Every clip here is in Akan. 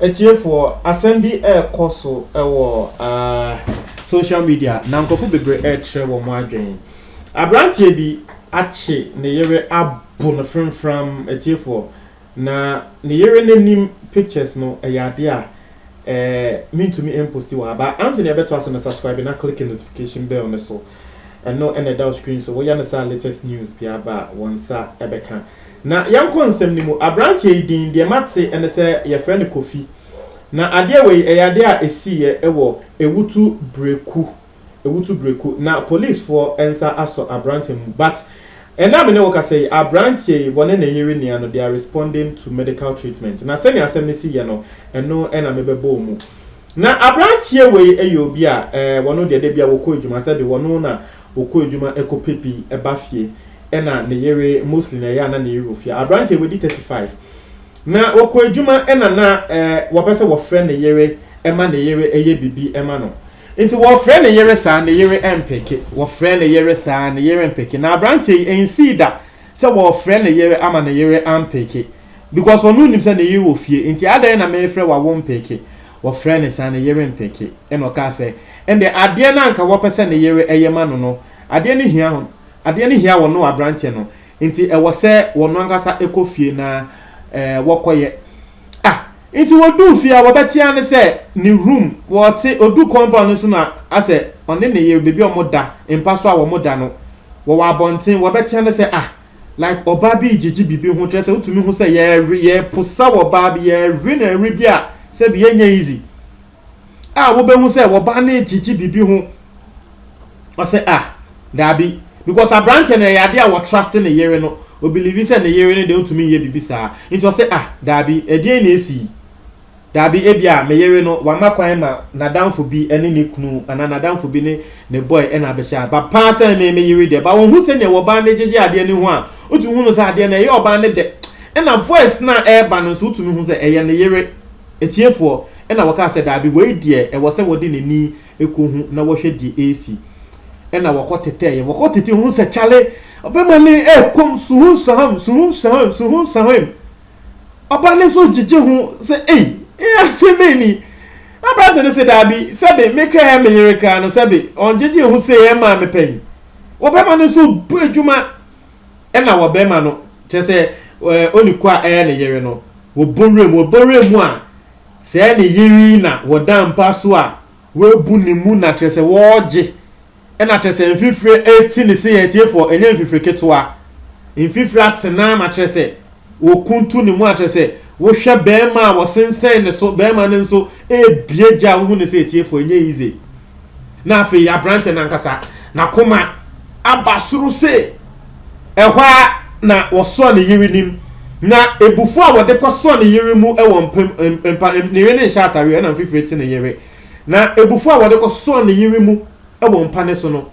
Atiefoɔ, asɛm bi ɛrekɔ so wɔ uh, social media na nkurɔfo bebree ɛrekyerɛ wɔn adwene. Aberanteɛ bi akye ne yere abo no framfram atiefoɔ. Na ne yere no nim pictures no ɛyɛ adeɛ a ɛɛ mentumi ɛmposti wɔ ha but ansa nea ɛbɛtoa so no subscribe na click notification bell no so ɛno ɛna ɛda wo screen so woyɛ no saa latest news biara ba a wɔn nsa ɛbɛka na yɛnkɔ nsɛm no mu abranteɛ yi din deɛ mate ɛne sɛ yɛfrɛ no Kofi na adeɛ wei ɛyɛ adeɛ a ɛsiiɛ ɛwɔ Ewutu Breku Ewutu breku na polisfoɔ nsa asɔ aberanteɛ mu but ɛnnɛ a me ne wo kasa yi, aberanteɛ yi wɔne ne yere nia no they are responding to medical treatment na sɛnea asɛm no si yɛ no ɛno na me bɛbɔɔ mu. Na aberanteɛ wei yɛ obi a eh wɔno deɛ dabiara wɔkɔ adwuma sɛbe wɔno na ɔkɔ adwuma kɔ pɛ bi ba fie ɛna ne yere mostly na ɛyɛ a na ne yere wɔ fie a aberanteɛ wadi 35 na ɔkɔ adwuma ɛna na eh wɔpɛ sɛ wɔfrɛ ne yere ɛma ne yere ɛyɛ bibi ɛma no. Nti wɔfrɛ ne yere saa, ne yere mpeke. Wɔfrɛ ne yere saa, ne yere mpeke. Na aberanteɛ yi, ɛnsii da sɛ wɔrefrɛ ne yere ama ne yere ampeke. Because ɔno nim sɛ ne yere wɔ fie. Nti adɛn na merefrɛ wo a wompeke? Wɔfrɛ ne saa, ne yere mpeke. Ɛna ɔkaa sɛ, ɛnde adeɛ no a anka wɔpɛ sɛ ne yere yɛ ma no no, adeɛ no hia hon, adeɛ no hia ɔno aberanteɛ no. Nti ɛwɔ sɛ ɔno ankasa kɔ fie na wɔkɔyɛ. Ah, nti wɔduu fie a wɔbɛtea no sɛ ne room, wɔte, ɔduu compound no so no a, asɛ ɔne ne yere baabi a wɔda, mpa so a wɔda no, wɔwɔ abɔnten, wɔbɛtea no sɛ ah, like ɔbaa bi regyegye biribi ho, kyerɛ sɛ wotumi hu sɛ yɛrewe, yɛreposaw ɔbaa bi, yɛrewe no ɛwe bi a, sɛbi ɛnyɛ easy. a wobɛhu sɛ wɔba ne gyegye biribi ho ɔsɛ a ah, daabi because aberanteɛ no ɛyɛ adeɛ a wɔtraste ne yere no obelivi sɛ ne yere no deɛ ɔntumi nyɛ biribi saa nti ɔsɛ a ah, daabi ɛdeɛn na ɛsi daabi ebi a me yere no wama kwan ma n'adamfo bi ne ne kunu anaa n'adamfo bi ne ne boy ɛna abɛhyɛ a ba paa sɛ me me yere deɛ ba wɔn ho sɛdeɛ wɔbaa ne gyegye adeɛ no ho a wotumi hu no sɛ adeɛ no ɛyɛ ɔbaa no dɛ ɛna voice no a ɛreba no nso wotumi hu sɛ ɛyɛ ne yere Atiefoɔ, ɛna wɔ'kaa sɛ, Daabi, woi deɛ ɛwɔ sɛ wɔ'de n'ani kɔ hu na wɔ'hwɛ deɛ ɛresi. Ɛna wɔ'kɔ tetɛɛɛ, wɔ'kɔ tete ho sɛ, Kyale, ɔbɛma no ɛɛ kom, suhun sahem, suhun sahem, suhun sahem. Ɔba no nso gyegye ho sɛ, Ei, ee asem bɛn ni? Aberante no se, Daabi, sɛbe me kra yɛ me yere kra no, sɛbe ɔngyegye ho se, Ɛɛ maa me pɛn. Ɔbɛma no nso bu adwuma. ɛna wɔbɛma no kyerɛ sɛ ɛɛ ɔne kua ɛyɛ ne yere no wɔbɔ wura mu wɔbɔ wura mu a sɛɛ ne yere yi na wɔda mpa so a wɔabu ne mu na kyerɛ sɛ wɔregye ɛna kyerɛ sɛ mfifire ɛti ne se yɛ atiefoɔ ɛnyɛ mfifire ketewa mfifire atena na kyerɛ sɛ Wokuntu ne mu a kyerɛ sɛ wohwɛ bɛɛma a wɔsensɛn ne so bɛɛma no nso ɛɛbie gya a wohu ne sɛ ɛtiefo ɛnyɛ easy na afei abrante no ankasa nakoma aba soro se ɛhɔ ara na wɔsɔ ne yere nim na ɛbufo a wɔde kɔ sɔ ne yere mu ɛwɔ mpem mpa ne yere ne nhyɛ atare ɛna mfifire te ne yere na ɛbufo a wɔde kɔ sɔ ne yere mu ɛwɔ mpa ne so no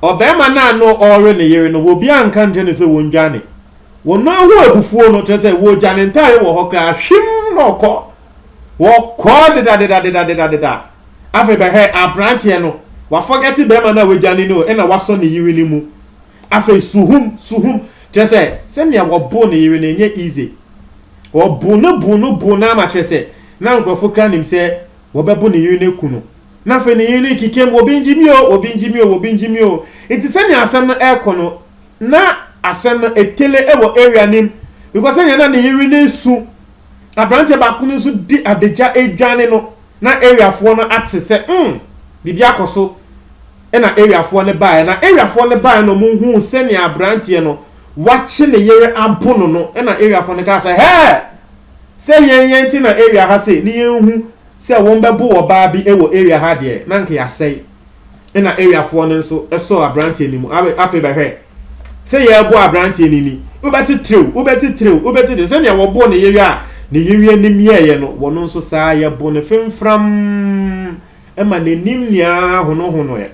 ɔbɛɛma no a no ɔɔre ne yere no wɔ bi anka nkyɛ ne sɛ wɔn dwane Wɔmaa ho abufuo no, kyerɛ sɛ wɔgya ne ntaareɛ wɔ hɔ koraa, hwim na ɔkɔ. Wɔkɔ dedadedadedadedadeda. Afei bɛhwɛ aberanteɛ no, wafɔgɛte barima no a wadwane no na wasɔ ne yere no mu. Afei suhum, suhum, kyerɛ sɛ sɛnea wɔboo ne yere no ɛnyɛ easy. Wɔboo no boo no boo no ama kyerɛ sɛ na nkurɔfoɔ koraa nim sɛ wɔbɛbo ne yere no aku no. Na afei ne yere no rekeka mu, obi ngye me o, obi ngye me o, obi ngye me o. Nti sɛnea asɛm no rekɔ no, Na asɛm no etele wɔ area no mu because sɛnea na ne yere no resu, abranteɛ baako no nso di adagya redwane no, na area foɔ no ate sɛ mm biribi akɔ so, ɛna area foɔ no baeɛ. Na area foɔ no baeɛ na wɔn huu sɛnea abranteɛ no wakye ne yere abo no no, ɛna area foɔ no kaa sɛ hɛɛ! Sɛ yɛn yɛn te na area ha sei ne yɛn hu sɛ wɔn bɛbo ɔbaa bi wɔ area ha deɛ na nka yɛasɛe. ɛna area foɔ no nso sɔɔ abranteɛ no mu abe afei bɛhwɛ sɛ yɛrebɔ abranteɛ no ni wobɛtitiriw wobɛtitiriw wobɛtitiriw sɛnea wɔbɔ ne yewe a ne yewe nim yɛɛyɛ no wɔn nso saa yɛbo no fimfram ɛma n'anim nea honohonoɛ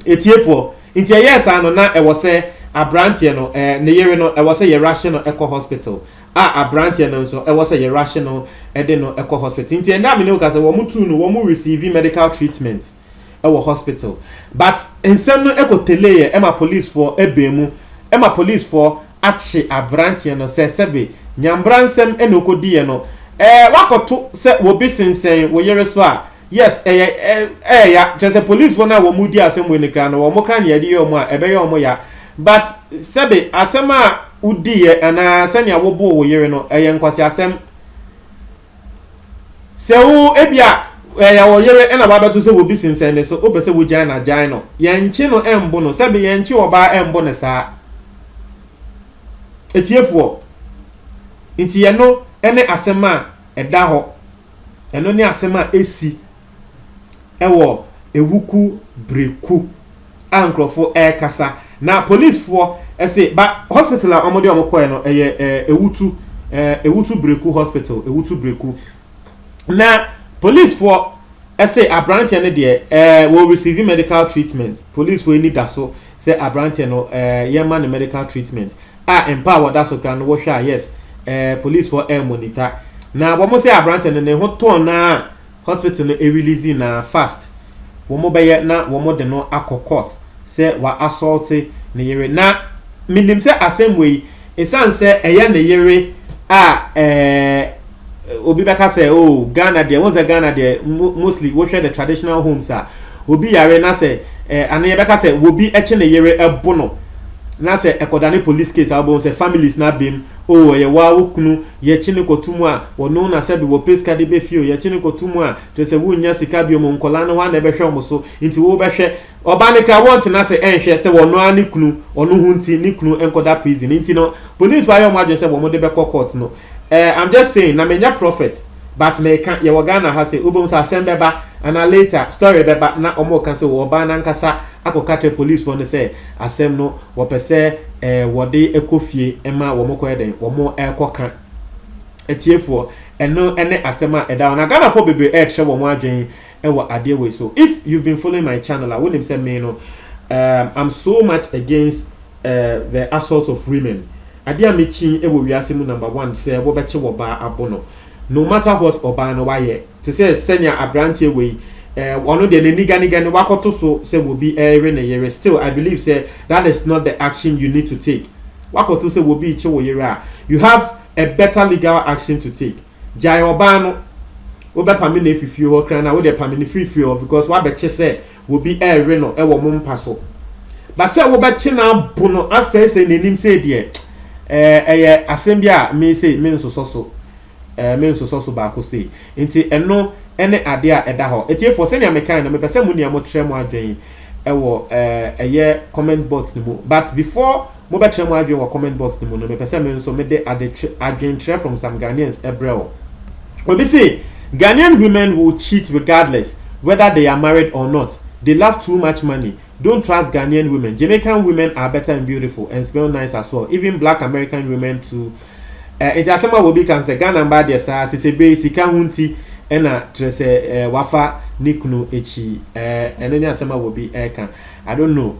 etiefoɔ nti ɛyɛɛ saa no na ɛwɔ sɛ abranteɛ no ɛɛ ne yewe no ɛwɔ sɛ yɛrahye no ɛkɔ hospital a abranteɛ no nso ɛwɔ sɛ yɛ rush no de no kɔ hospital nti ɛnɛ a mene wo kasa wɔn tuu no wɔn receive medical treatment ɛwɔ hospital but nsɛm no ɛkɔ teleeɛ ɛma police foɔ ɛbɛn mu ɛma police foɔ akye abranteɛ no sɛ sɛbe nyambra nsɛm ɛna ɔkɔdiiɛ no ɛɛ wakɔto sɛ wɔbi sensɛn wo yere so a Yes ɛyɛ ɛyɛ ya kyerɛ sɛ police foɔ no a wɔn di asɛm wei no koraa no wɔn koraa nea yɛde yɛ wɔn a ɛbɛyɛ wɔn ya but sɛbe asɛm a wodiiɛ anaa sɛnea woboo wo yere no ɛyɛ nkwaseasɛm sɛ wo ebia ɛyɛ wo yere ɛna wabɛto sɛ wobi sensɛn ne so wopɛ sɛ wogyae na gyae no yɛnkye no ɛmbo no sɛbe yɛnkye ɔbaa ɛmbo no saa atiefoɔ nti yɛno ɛne asɛm a ɛda hɔ Ɛno ne asɛm a ɛsi wɔ awuku bere ku a nkurɔfo ɛrekasa na polisfoɔ ɛse ba hospital a wɔde wɔn kɔɛ no ɛyɛ awutu awutu breku hospital awutu breku na polisfoɔ ɛse abranteɛ no deɛ ɛɛ wɔ receive medical treatment polisfoɔ ani da so sɛ abranteɛ no ɛɛ yɛma no medical treatment a mpa a wɔda so kra no wohwɛ a yes ɛɛ police foɔ ɛɛ monita na wɔn sɛ aberanteɛ no ne ho tɔɔ naa hospital no ɛrelease naa fast wɔn bɛyɛ na wɔn de no akɔ court sɛ wa assault ne yere na menim sɛ asɛm wei ɛsan sɛ ɛyɛ ne yere a ɛɛ obi bɛka sɛ o oh, ghana deɛ wo sɛ ghana deɛ mostly wohwɛ the traditional homes a obi yare na sɛ eh, ano yɛbɛka sɛ obi kye ne yere ɛbo no na sɛ ɛkɔda ne police case a wobɛhu sɛ families no abam o oh, ɛyɛ waa wo kunu yɛkye ne kɔto mu a wɔno na sɛ bi wɔpɛ sika de bɛfie o yɛkye ne kɔto mu a kyerɛ sɛ wonnya sika bio mu nkɔla no hɔ a na ɛbɛhwɛ wɔn so nti wobɛhwɛ Ɔbaa no koraa wɔntena ase nhwɛ sɛ ɔno ara ne kunu, ɔno ho nti ne kunu nkɔda prison nti no police fo ayɛ wɔn adwene sɛ wɔn de bɛkɔ court no eh I'm just saying na menyɛ prophet but meka yɛwɔ Ghana ha sɛ wobɛhu sɛ asɛm bɛba anaa later story bɛba na wɔn reka sɛ oh ɔbaa no ankasa akɔka kyerɛ police foɔ no sɛ asɛm no wɔpɛ sɛ eh wɔde kɔ fie ma wɔn kɔyɛ dɛn wɔn ɛrekɔ ka atiefoɔ ɛno ɛne asɛm a ɛda hɔ na Ghana foɔ bebree ɛrekyerɛ wɔn adwene wɔ adeɛ wei so if you've been following my channel a wonim sɛ me no um, I'm so much against uh, the assault of women adeɛ a mekyi wɔ wiase mu number one sɛ wɔbɛkye wɔ baa abo no no matter what ɔbaa no wayɛ te sɛ sɛnea aberanteɛ wei uh, ɔno deɛ n'aniganega no wakɔto so sɛ wɔbi ɛyere ne yere still I believe sɛ that is not the action you need to take wakɔto sɛ wɔbi kye wo yere a you have a better legal action to take Gyae ɔbaa no wobɛpame no afi fie hɔ kra na wode pame no firi fie hɔ because wabɛkye sɛ obi ɛrewe no wɔ mo mpa so but sɛ wobɛkye no abo no asɛesɛe n'anim sei deɛ ɛɛ ɛyɛ asɛm bi a me sei me nsosɔ so ɛɛ me nsosɔ so baako sei nti ɛno ɛne adeɛ a ɛda hɔ etiefoɔ sɛnea mekae no mepɛ sɛ mo nea mokyerɛ mo adwene ɛwɔ ɛɛ ɛyɛ comment box no mu but before Mobɛkyerɛ mo adwene wɔ comment box no mu no, mepɛ sɛ me nso mede ade kyerɛ, adwenkyerɛ from some Ghanaians brɛ wo. Obi se, Ghanaian women will cheat regardless whether they are married or not, they love too much money, don't trust Ghanaian women, Jamaican women are better and beautiful and smell nice as well, even black American women too eh, nti asɛm a obi ka no sɛ Ghana mbaa deɛ saa, sesebee sika ho nti na kyerɛ sɛ eh, wafa ne kunu akyi eh, ɛno ne asɛm a obi ɛka. I don't know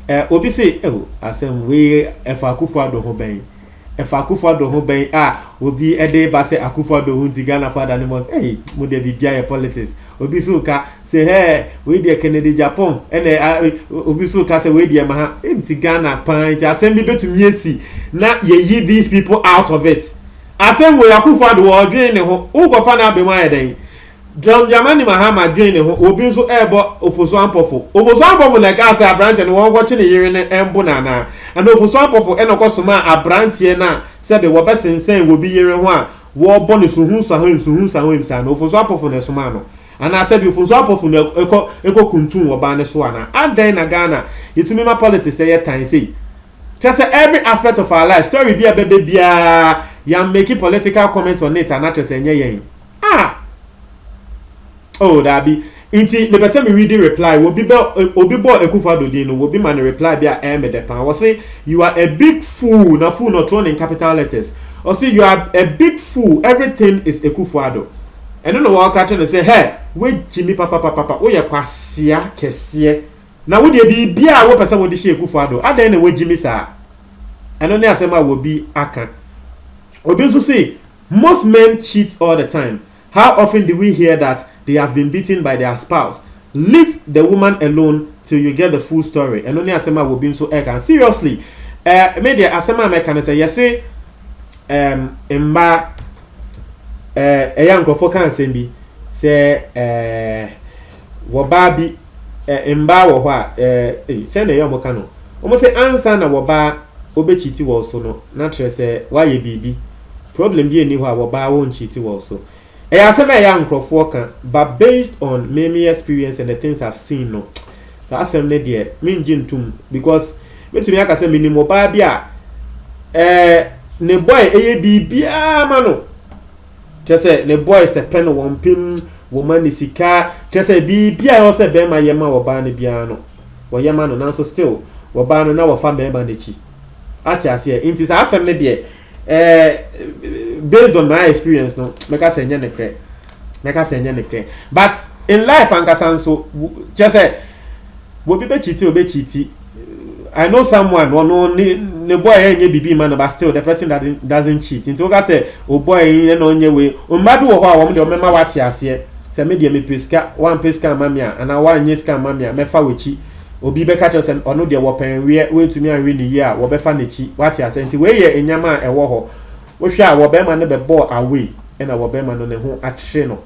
eh, obi se oh, asɛm wei ɛfa Akufo Addo ho bɛn? Ɛfa Akufo Addo ho bɛn a obi ɛde ba sɛ Akufo Addo ho nti Ghana fo ada ne mɔ hey, mo deɛ biribiara yɛ politics. Obi so ka sɛ hɛɛ wei deɛ Kennedy Japan ɛna obi so ka sɛ wei deɛ ma ha nti Ghana paa nti asɛm bi betumi esi na yɛyi these people out of it. Asɛm wei Akufo Addo ɔdwen ne ho wokɔfa no abɛm ayɛ dɛn? John Dramani Mahama dwen ne ho, obi nso rebɔ Ofosu-Ampofo. Ofosu-Ampofo na ɛkaa sɛ aberanteɛ no wɔnkɔkye ne yere no mbo no anaa? Ɛnna Ofosu-Ampofo na ɔkɔsomaa aberanteɛ no a sɛbe wɔbɛsensɛn obi yere ho a wɔrebɔ no suhunsahoim suhunsahoim saa no, Ofosu-Ampofo na ɛsomaa no? Anaa sɛbe Ofosu-Ampofo na ɛkɔkuntumm ɔbaa no so anaa? Adɛn na Ghana yɛtumi ma politics yɛ tan sei? Kyerɛ sɛ every aspect of our lives, story bi a ɛbɛba biara, yɛammake political comment on it anaa kyerɛ sɛ ɛnyɛ yɛn? Ah! Oh, daabi. Nti mepɛ sɛ me readi reply. Wɔbi bɛ, obi bɔɔ Akufo Addo din no, wɔbi ma no reply bi a ɛyɛ me dɛ paa. Wɔse, You are a big fool, na fool no ɔtwerɛ no in capital letters. Ɔse, You are a big fool, everything is Akufo Addo. Ɛno na wɔka kyerɛ no sɛ, Hɛ! Woagyimi papapapapa, woyɛ kwasea kɛseɛ. Na wo deɛ biribiara a wopɛ sɛ wode hyɛ Akufo Addo, adɛn na woagyimi saa? Ɛno ne asɛm a wɔbi aka. Obi nso se, Most men cheat all the time, how often do we hear that they have been beaten by their spouse? Leave the woman alone till you get the full story ɛno ne asɛm a wɔ bi nso ɛka seriously eh, me deɛ asɛm a mɛka ne sɛ yɛse ehm mmaa eh, ɛyɛ a nkurɔfoɔ ka asɛm bi sɛ eh, wɔbaa bi eh, mmaa wɔ hɔ a eh, eh, sɛ na ɛyɛ ɔmo ka no ɔmo sɛ ansa na wɔbaa ɔbɛkyiti wɔ so no na kyerɛ sɛ wayɛ biribi Problem biaa nni hɔ a wɔbaa won cheati wɔ so. Ɛyɛ asɛm a ɛyɛ a nkorɔfoɔ ka but based on me me experience and the things I've seen no saa asɛm no deɛ me ngye ntom because me tumi aka sɛ me nim obaa bi a ɛɛ ne boy ɛyɛ biribiaa ma no kyerɛ sɛ ne boy sɛ pɛ no wɔn pem wɔn ma ne sika kyerɛ sɛ biribiaa ɛwɔ sɛ bɛɛma yɛ ma obaa no biaa no wɔyɛ ma no nanso still obaa no na wɔfa bɛɛma no akyi ate aseɛ nti saa asɛm no deɛ Eh, based on my experience no, mɛka sɛ ɛnyɛ nekorɛ. Mɛka sɛ ɛnyɛ nekorɛ. But in life ankasa nso, kyerɛ sɛ, obi bɛkyiti, ɔbɛkyiti. I know someone, ɔno ne ne boy ɛnyɛ biribi ma no, but still the person doesn't, doesn't cheat. Nti woka sɛ, o oh boy ɛna ɔnyɛ wei. Mma bi wɔ hɔ a wɔn deɛ wɔmɛma wate aseɛ. Sɛ me deɛ mepɛ sika, wɔampɛ sika amma me a, anaa wɔanyɛ sika amma me a, mɛfa w'akyi. Obi bɛka akyerɛ wo sɛ ɔno deɛ wɔpɛnweɛ, woantumi anwe no yie a, wɔbɛfa n'akyi. Woate aseɛ? Nti wei yɛ nneɛma a ɛwɔ hɔ. Wohwɛ a, wɔbarima no bɛbɔɔ away, ɛna wɔbarima no ne ho akyere no.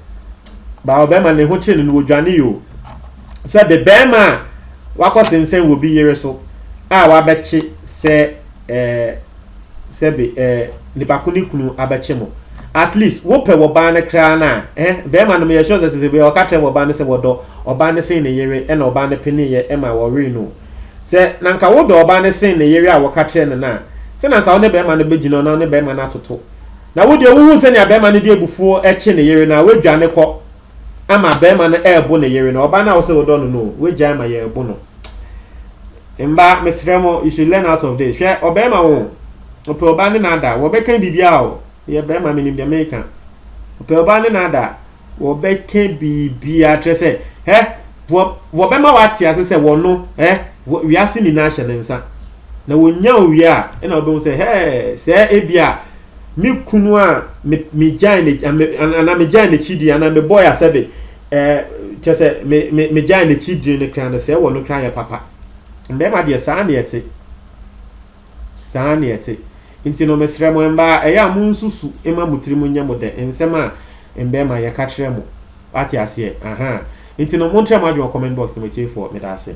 Baa wɔbarima no ne ho kyere no no, wɔdwaneeɛ o. Sɛ bebarima a wakɔsensɛn wɔ bi yere so a wabɛkye sɛ ɛɛ sɛbe ɛɛ nipa ko ne kunu abɛkye mo at least wopɛ wɔ baa no koraa no a eh, bɛrima no meyɛ sure sɛ sese bɛyɛ ɔka kyerɛ wɔ baa no sɛ wɔdɔ ɔbaa no sen ne yere ɛna ɔbaa no peneeɛ ɛma wɔwee no sɛ na nka wodɔ ɔbaa no sen ne yere a wɔka kyerɛ no no a sɛ na nka wo ne bɛrima no bɛgyina na wo ne bɛrima no atoto na wodeɛ wohu sɛnea bɛrima no de abufuo ɛkye ne yere no a woadwane kɔ ama bɛrima no ɛɛbo ne yere no ɔbaa no a wosɛ wodɔ no no wagyae ma yɛɛbo no mba mesrɛ mo you should learn out of this hwɛ ɔbɛrima wo ɔpɛ ɔbaa ne naada wɔbɛka biribiaa o yɛ bɛrima menim deɛ meka ɔpɛ ɔbaa ne naada wɔbɛka biribiaa kyerɛ sɛ hɛ wɔbɛma wate ase sɛ wɔno hɛ wiase nyinaa hyɛ ne nsa na wɔnya owie a ɛna wɔbɛhu sɛ hɛ sɛ ebi a me kunu a me megyae ne anaa megyae n'akyi di anaa mebɔe asɛde ɛɛ kyɛ sɛ me me megyae n'akyi di no kra no sɛ ɛwɔ no kra yɛ papa mbɛɛma deɛ saa na ɛte saa na ɛte nti no mesrɛ mo mbaa ɛyɛ a mo nsusu ma mo tiri mu nyɛ mo dɛ nsɛm a mbɛɛma yɛka kyerɛ mo wate aseɛ aha nti no montrɛ mo adwene wɔ comment box no mo atiefoɔ meda ase